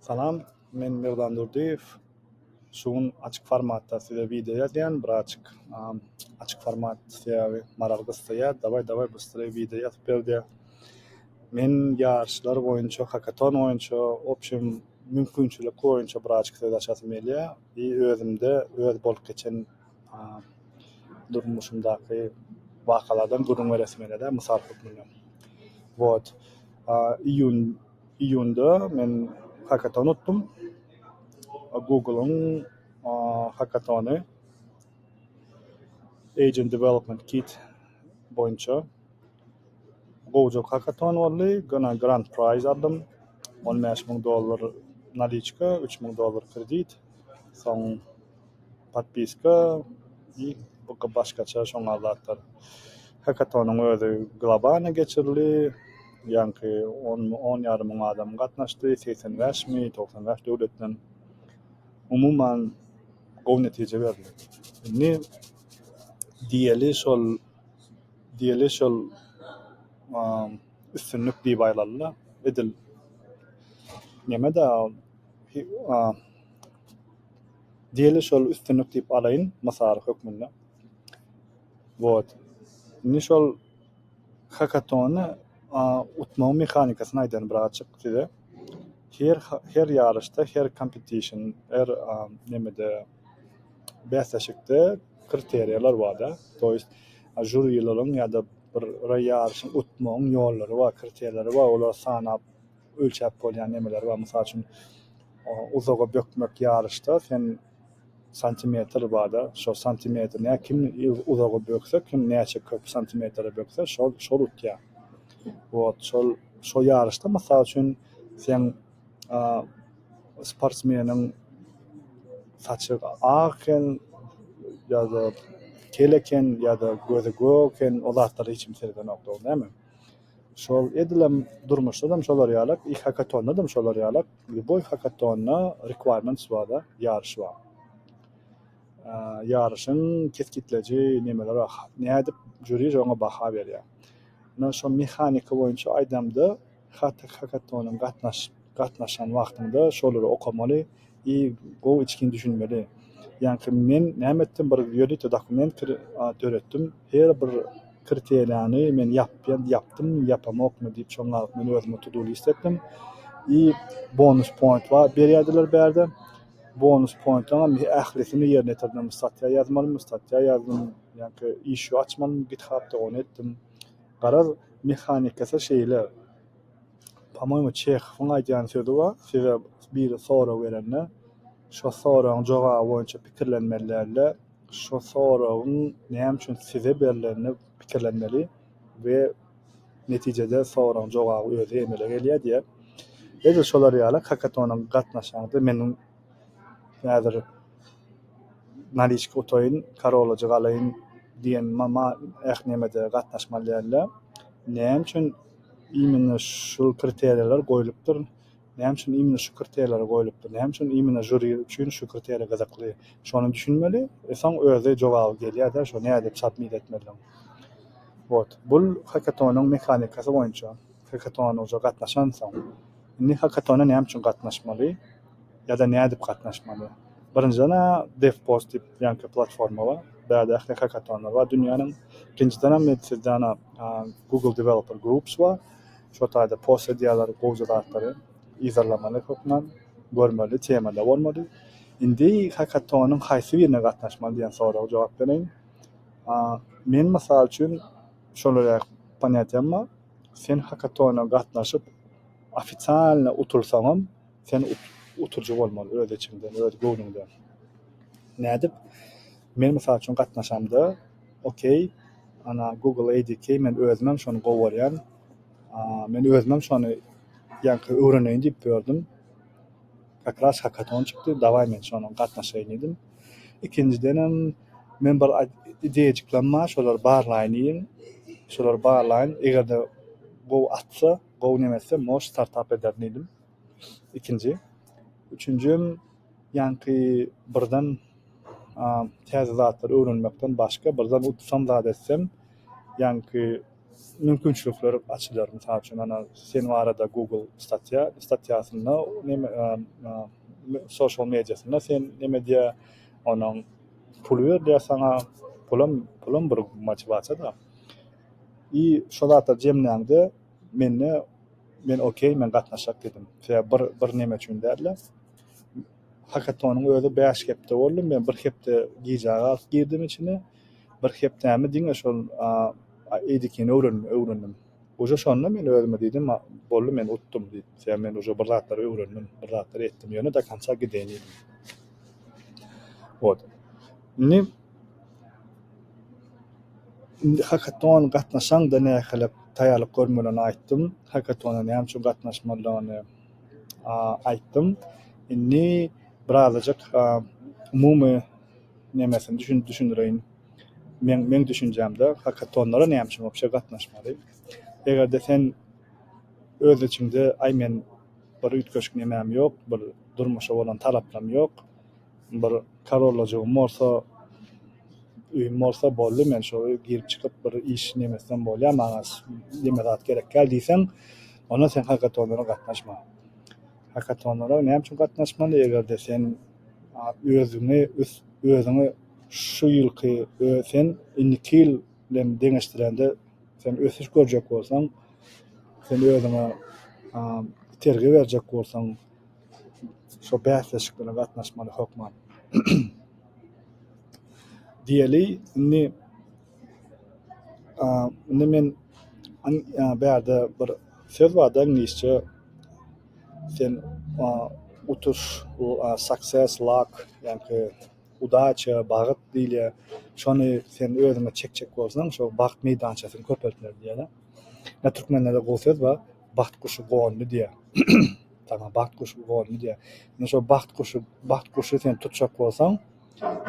Salam, men Merdan Durdyýew. Şu gün açyk formatda size wideo ýazýan, biraçik açyk format sebäbi maraly gyssaýar. Daway daway bystree wideo ýazyp ber diýýär. Men ýaryşlar boýunça, hakaton boýunça, obşem mümkinçilik boýunça biraçik söz açasym gelýär. I özümde öz bolup geçen durmuşymdaky wakalardan gürrüň beresim gelýär-dä, mysal hökmünde. Wot, iýun, iýunda men hakaton utdum. Google-yň hakatony, Agent Development Kit boýunça. Gowujak hakaton boldy, gana Grand Prize aldym, on bäş müň dollar naliçka, üç müň dollar kredit, soň podpiska i başgaça şoňa zatlar hakatonyň özi globany geçirildi ýaňky on on ýarym müň adam gatnaşdy segsen bäşmi togsan bäş döwletden umuman gowy netije berildi indi diýeli şol diýeli şol üstünlik diýip aýlanda edil nemedä ol Diýeli şol üstünlik diýip alaýyn mysal hökmünde. Wot. Indi şol hakatony utmagyň mehanikasyny aýdaýyn bir açyk size. Her her ýaryşda, her kompetişn, her nemede bäsleşikde kriteriýalar barda. To ýest žurilaryň ýa-da bir ýaryşyň utmagyň ýollary bar, kriteriýalary bar. Olary sanap ölçäp bolýan nemeler bar. Mysal üçin, uzaga bökmek ýaryşda sen santimetr barda, şo santimetr näme kim uzaga bökse, kim näçe köp santimetre bökse şol şol utýar. Wot şol şo ýaryşda mysal üçin sen sportsmeniň saçy ak eken ýa-da kel eken ýa-da gözi gök eken o zatlar hiç kim seredenok dogry näme. Şol edilem durmuşdadam şolar ýalak i hakatondadam şolar ýalak lýuboý hakatonda requirements bar da ýaryş bar ýaryşyň kesgitleýji nemeleri bar nädip žuri şoňa baha berýär ine şo mehanika boýunça aýdamda hakatonyň gatnaşyp Gatnaşan wagtyňda şolary okamaly i gowy içgin düşünmeli. Ýaňky men näme etdim bir ýörite dokument kir döretdim her bir kriterýany men ýapýan ýapdymmy ýapamokmy diýip şoň galyp men özüme to do list etdim i bonus point bar berýärdiler bärde bonus pointaňam ählisini ýerine ýetirdim statýa ýazmalymy statýa ýazdym ýaňky işu açmalymy github da ony etdim garaz mehanikasy şeýle. Pomoýmy, Çehowyň aýdýan sözi bar, Size biri sorag berende, şo soragyň jogaby boýunça pikirlenmeli däl-de, şo soragyň näme üçin size berlenini pikirlenmeli we netijede soragyň jogaby özi emele gelýär diýýär. Edil şolar ýaly kakatona gatnaşaňyzda meniň häzir naliçka utaýyn, karolajy galaýyn diýen ma-ma ähli nämede gatnaşmaly däl-de, näme üçin Imine şul kriteriýalar goýlupdyr. Näme üçin imine şu kriteriýalar goýlupdyr? Näme üçin imine žuri üçin şu kriteriýa gyzykly? Şony düşünmeli. Soň özi jogaby gelýär-de, şo nädip submit etmelidigiň. Wot. Bul hakatonyň mehanikasy boýunça. Hakatona ujua gatnaşansoň. Indi hakatona näme üçin gatnaşmaly? Ýa-da nädip gatnaşmaly? Birinjiden-ä DevPost diýip ýaňky platforma bar. Bärde ähli hakatonlar bar dünýäniň. Ikinjidenem men sizden Google Developer Groups bar. Şo taýda post edýärler gowja zatlary yzarlamaly hökman, görmeli, temada bolmaly. Indi hakatonyň haýsy birine gatnaşmaly diýen soraga jogap bereýin. Men mysal üçin şolar ýaly ponýatiýam bar. Sen hakatona gatnaşyp ofitsialny utulsaňam, Sen uturyjy bolmaly öz içiňden, öz göwnüňden. Nädip? Men mysal üçin gatnaşamda, okey, ana, Google ADK, men özümem şony gowy görýän, men özümem şony ýaňky öwreneýin diýip ýördüm, kak ras hakaton çykdy, dawaý men şonuň gatnaşaýyn diýdim. Ikinjidenem men bir ideýajyklaryň bar, şolary barlaýyn diýdim. Şolary barlaýyn, eger-de gowy atsa, gowy nemetse, mož, startap ederin diýdim. Ikinji. Üçünji hem ýaňky birden täze zatlary öwrenmekden başga birden utusam zat etsem ýaňky mümkinçilikler açylar. Mysal üçin ana sen barada google statýa statýasynda neme sosial mediasynda sen neme edýä onuň puly berilýä saňa pulam pulam bir motiwasiýada. I şo zatlar jemlände. Mende men okey men gatnaşak diýdim. Sebäbi bir bir neme üçin dälde. Hakatonyň özi bäş hepde boldy. Men bir hepde gijä galyp girdim içine. Bir hepdämi diňe şol eýdikini öwren öwrendim. Uje şonda men özüme diýdim boldy men utdum diýip. Sebäbi men uje bir zatlar öwrendim. Bir zatlar etdim. Ýöne do konca gideýin diýdim. Wot. Indi Indi hakaton gatnaşaňda nähili taýýarlyk görmelidigini aýtdym. Hakatona näme üçin gatnaşmalydygyny aýtdym. Indi birazajyk umumy nemesini düşündireýin. Meň düşünjämde hakatonlara näme üçin wobşe gatnaşmaly? Eger-de sen öz içiňde aý men bir üýtgeşik nemem ýok, bir durmuşa bolan talaplarym ýok. Bir karolajygym bolsa, öýüm bolsa boldy, men şo girip-çykyp bir iş nemesinem bolýar, maňa neme zat gerekkä diýseň, onda sen hakatonlara gatnaşma. Hakatonlara näme üçin gatnaşmaly, eger-de sen özüňi, özüňi şu ýylky sen indiki ýyl bilen deňeşdirende sen ösüş görjek bolsaň, sen özüňe itergi berjek bolsaň, Şo bäsleşiklere gatnaşmaly hökman. Diýeli, indi, a, indi men bärde bir söz barda iňlisçe sen, a, utuş, a, success, luck, ýaňky udaça, bagt diýilýär. Şony sen özüňe çekjek bolsaň, şo bagt meýdançasyny köpeltmeli diýýärler. Türkmenlerde gowy söz bar. Bagt guşy gondy diýýä. Saňa bagt guşy gondy diýýä. Men şo bagt guşy, bagt guşy sen tutjak bolsaň,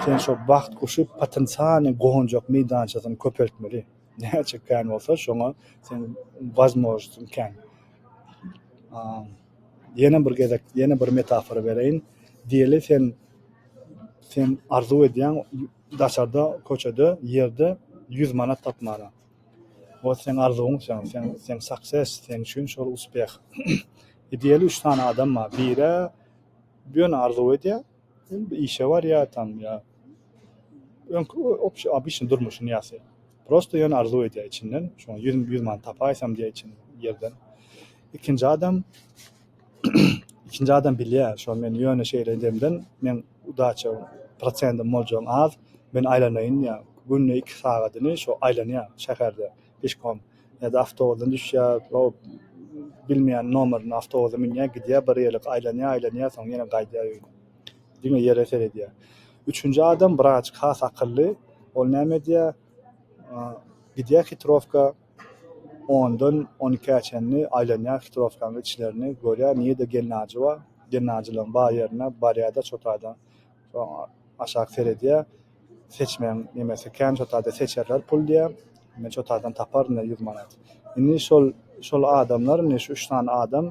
sen şo bagt guşy potensialnyý gonjak meýdançasyny köpeltmeli. Näçe kän bolsa, şoňa seň wazmoznityň kän. Ýene bir gezek, ýene bir metafora bereýin. Diýeli sen, sen arzuw edýäň daşarda, köçede, ýerde ýüz manat tapmana. Ol seň arzuwyň sen sen sen success sen üçin şol uspeh idealy üç sany adam bar birä ýöne arzuw edýär indi işe barýar tam ýa öňki obşi obyçnyý durmuşyny ýasaýar prosto ýöne arzuw edýär içinden şoň ýüz ýüz many tapaýsam diýýär içinden ýerden ikinji adam Ikinji adam bilýär şony men ýöne şeýle demden meň udaçam prosentim boljagyň az men aýlanaýyn diýýär günde iki sagadyny şo aýlanýar şäherde pişkom ýa-da awtobusdan düşýär o bilmeýän nomerine awtobusa münýär gidýär bir ýerlik aýlanýar aýlanýar soň ýene gaýdýar öýüne diňe ýere seredýär üçünji adam wraç has akylly ol näme edýär gidýär hitrowka Ondan on ikä çenli aýlanýar hitrowkaň içlerini, görýär, nirede gelnajy bar. Gelnajylaň bar ýerine barýar-da, çotada aşak seredýär. Seçmegiň nemesi kän, çotada seçerler pul diýýär. Men çotadan taparyn-da ýüz manat. Indi şol, şol adamlar, indi şu üç sany adam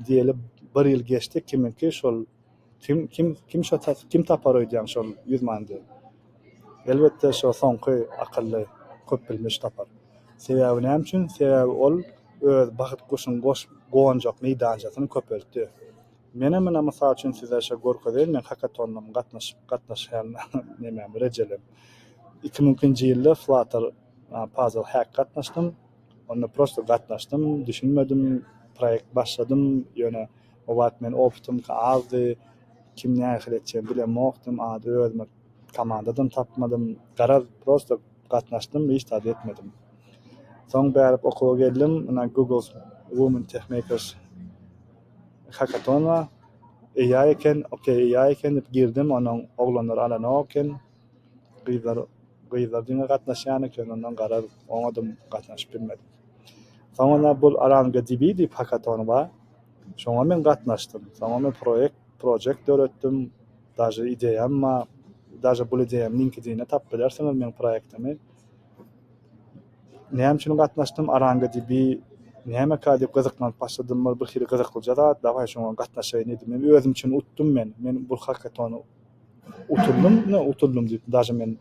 diýeli bir ýyl geçdi, kimiňki şol, Kim kim kim şo tas kim tapar öýdýäň şol ýüz mandy? Elbetde şo soňky akylly köp bilmiş tapar. Sebäbi näme üçin? Sebäbi ol öz bahyt guşuň goş gonjak meýdançasyny köpeltdi. Menem ine mysal üçin size şo görkezeýin meň hakatonlam gatnaşyp gatnaşýan nemem rejelem. Iki müňki nji ýylda flutter puzzle hack gatnaşdym. Onda prosto gatnaşdym düşünmedim proýekt başladym ýöne O wagt men optymka azdy, kim nähili etjegini bilemokdym, ady özüme komandadan tapmadym. Garaz, prosta gatnaşdym, hiç zat etmedim. Soň bärik okuwa geldim, ynha Google's Women Tech Makers Hackathon-a AI eken, ok, AI eken diýip girdim, onuň oglanlar alanok eken, gyzlar gyzlar diňe gatnaşýan eken, ondan garaz, oňadam gatnaşyp bilmedim. Soňundan bul Arangadb diýip hackathon bar, Şoňa men gatnaşdym. Soňa men proýekt, project, döretdim. Daže ideýam ba, daže bul ideýam LinkedIn-de tapyp bilersiňiz meň proýektimi. Näme üçin gatnaşdym? ArangaDB nämekä diýip gyzyklanyp başladym. Bir bir hili gyzyklyja zat, dawaý şoňa gatnaşaýyn diýdim. Men özüm üçin utdum men. Men bul hakatony utuldym, ýa utuldym diýip daže men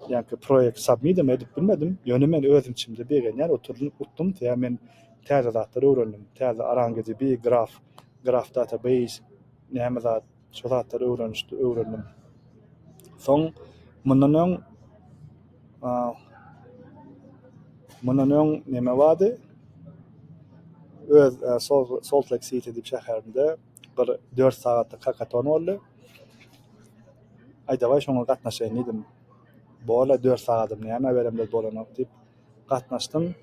ýaňky proýekt submit-em edip bilmedim. Ýöne men öz içimde begenýän oturdym, utdum. Tä men Täze zatlar öwrendim. Täze ArangeDB, Graf, Graf Database, näme zat, şo zatlary öwrenişdi, öwrendim. Soň mundan öň mundan öň näme bardy? Öz Salt Lake City diýip şäherinde bir dört sagatlyk hakaton boldy. Aýdabaý şoňa gatnaşaýyn diýdim. Bor-la dört sagadym näme beremler bolanok diýip. gatnaşdym.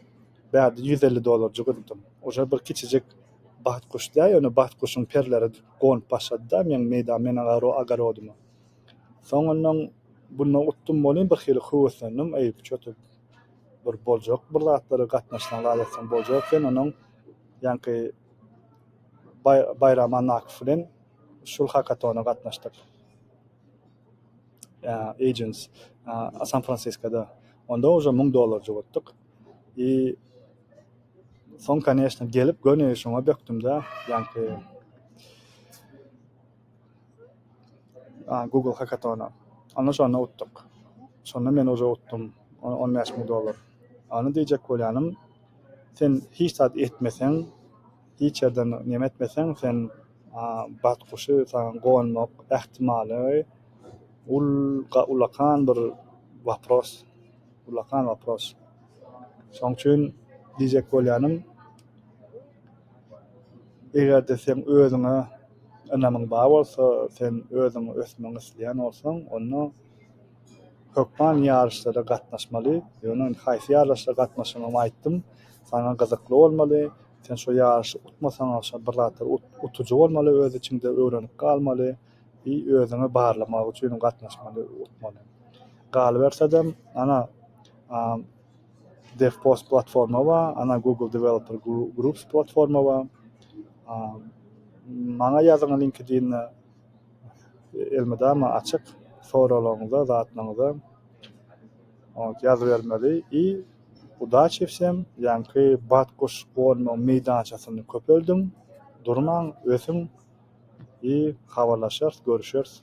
Bärde ýüz elli dollarjyk uzdum. Uje bir kiçijik bat guş däl, ýöne bat guşuň perleri gonup başlady-da meň meýda men agaro agarodyma. Soňundan bundan utdum welin bir hili höweslendim, eý çötek bir boljak bir zatlary gatnaşsaň zat etseň boljak eken, onuň ýaňky Baý Baýram Annakow bilen şul hakatona gatnaşdyk. agents san fransiskoda onda uje müň dollar jugutdyk i soň konýeçnä gelip göni şoňa bökdümdä ýaňky google hakatona onda şonda utdyk şonda men uje utdym on bäş müň dollar onda diýjek bolýanym sen hiç zat etmeseň hiç ýerden neme etmeseň sen batguşy saňa gonmak ähtimallygy ul ulakan bir wapros ulakan wapros şoň üçin diýjek bolýanym egerde seň özüňe ynamyň bar bolsa sen özüň ösmek isleýän bolsaň onda hökman ýaryşlara gatnaşmaly ýöne haýsy ýaryşlara gatnaşygyňy aýtdym saňa gyzykly bolmaly. Sen şo ýaryşy utmasaňam şo bir zatlar ut, utujy bolmaly öz içiňde öwrenip galmaly i özüňi barlamak üçin gatnaşmaly utmaly. Galybersedem ana a DevPost platforma bar, ana Google Developer Groups platforma bar. A maňa ýazyň LinkedIn'e elmydama açyk soralaryňyza zatlaryňyza. Ot ýazybermeli i Udaçewsem ýaňky batguş gonuň meýdançasyny köpeldiň, durmaň, ösüň i habarlaşarys, görüşeris.